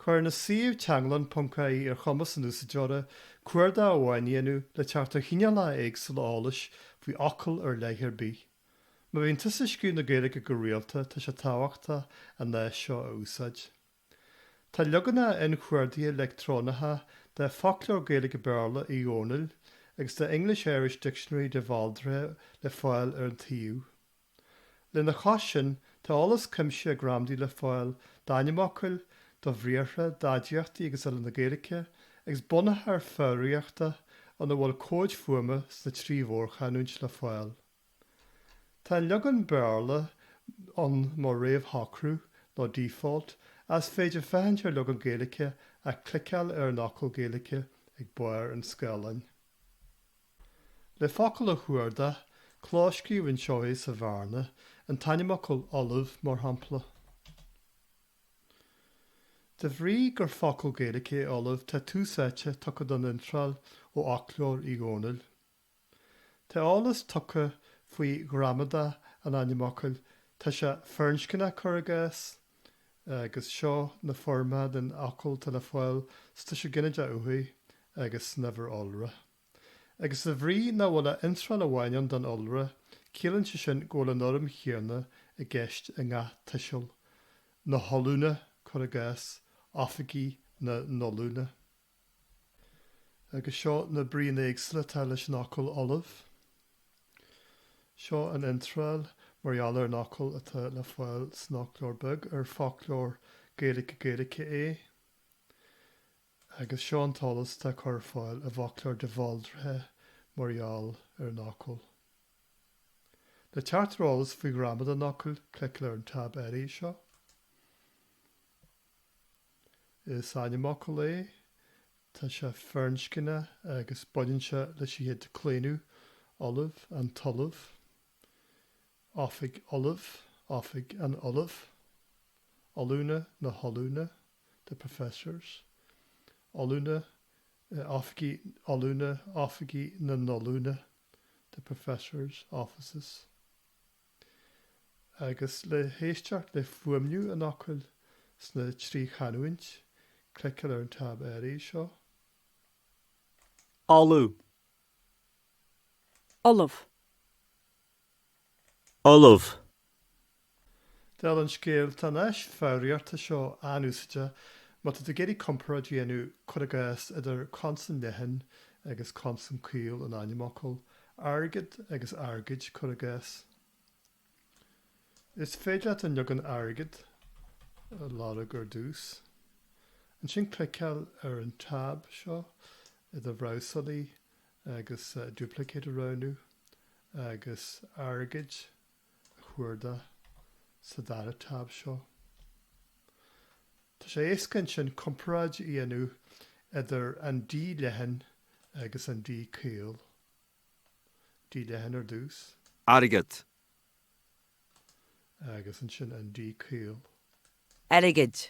Cuireann an suíomh teanglann.ie ar chumas an úsáideora cuardach amháin a dhéanamh le teacht ar chineálacha éagsúla eolais faoi fhocal ar leith ar bith. Má bhíonn tusa ag scríobh na Gaeilge go rialta, tá sé tábhachtach an áis seo a úsáid. Tá leaganacha inchuardaithe leictreonacha de Foclóir Gaeilge-Béarla Uí Dhónaill agus de English-Irish Dictionary de Bhaldraithe le fáil ar an tsuíomh. Lena chois sin, tá eolas cuimsithe gramadaí le fáil d'ainmfhocail, do bhriathra, d'aidiachtaí agus eile na Gaeilge, agus bunachar foghraíochta, ina bhfuil comhaid fuaime sna trí mhórchanúint le fáil. Tá an leagan Béarla ann mar réamhshocrú nó default, is féidir féachaint ar leagan Gaeilge ach cliceáil ar an fhocal Gaeilge ag barr an scáileáin. Le focal a chuardach, clóscríobh anseo é sa bhearna, an t-ainmfhocal ollamh, mar shampla. De bhrí gur focal Gaeilge é ollamh, tá tús áite tugtha don iontráil ó fhoclóir Uí Dhónaill. Tá eolas tugtha faoi ghramadach an ainmfhocail, tá sé firinscneach, cuir i gcás, agus seo na foirmeacha den fhocal atá le fáil sa tuiseal ghinideach uathaidh agus san uimhir iolra. Agus de bhrí nach bhfuil ach iontráil amháin ann don iolra, ciallaíonn sé sin go bhfuil an fhoirm chéanna i gceist i ngach tuiseal, na hollúna, cuir i gcás, oifigí na n-ollúna. Agus seo na bríonna éagsúla atá leis an fhocal ollamh. Seo an iontráil mar gheall ar an fhocal atá le fáil san Fhoclóir Beag, ar foclóir Gaeilge-Gaeilge é, agus seo an t-eolas atá curtha ar fáil i bhFoclóir De Bhaldraithe mar gheall ar an fhocal. Le teacht ar eolas faoi ghramadach an fhocail, cliceáil ar an tab áirithe seo. Is ainmfhocal é, tá sé firinscneach agus baineann sé leis an chéad díochlaonadh, ollamh, an t-ollamh, oifig ollaimh, oifig an ollaimh, ollúna, na hollúna, the professors, ollúna, oifigí ollúna, oifigí na n-ollúna, the professors' offices. Agus le héisteacht le fuaimniú an fhocail sna trí chanúint, cliceáil ar an tab áirithe seo. Ollamh. Ollamh. Ollamh. Dála an scéil, tá an áis foghraíochta seo an-úsáideach má tá tú ag iarraidh comparáid a dhéanamh, cuir i gcás, idir consan leathan agus consan caol in ainmfhocal, Airgead agus airgid, cuir i gcás. Is féidir leat an leagan Airgead a lorg ar dtús. Ansin cliceáil ar an táb seo i do bhrabhsálaí agus Duplicate a roghnú agus Airgid a chuardach sa dara táb seo. Tá sé éasca ansin comparáid a dhéanamh idir an d leathan agus an d caol. D leathan ar dtús. airgead. Agus ansin an d caol. airgid.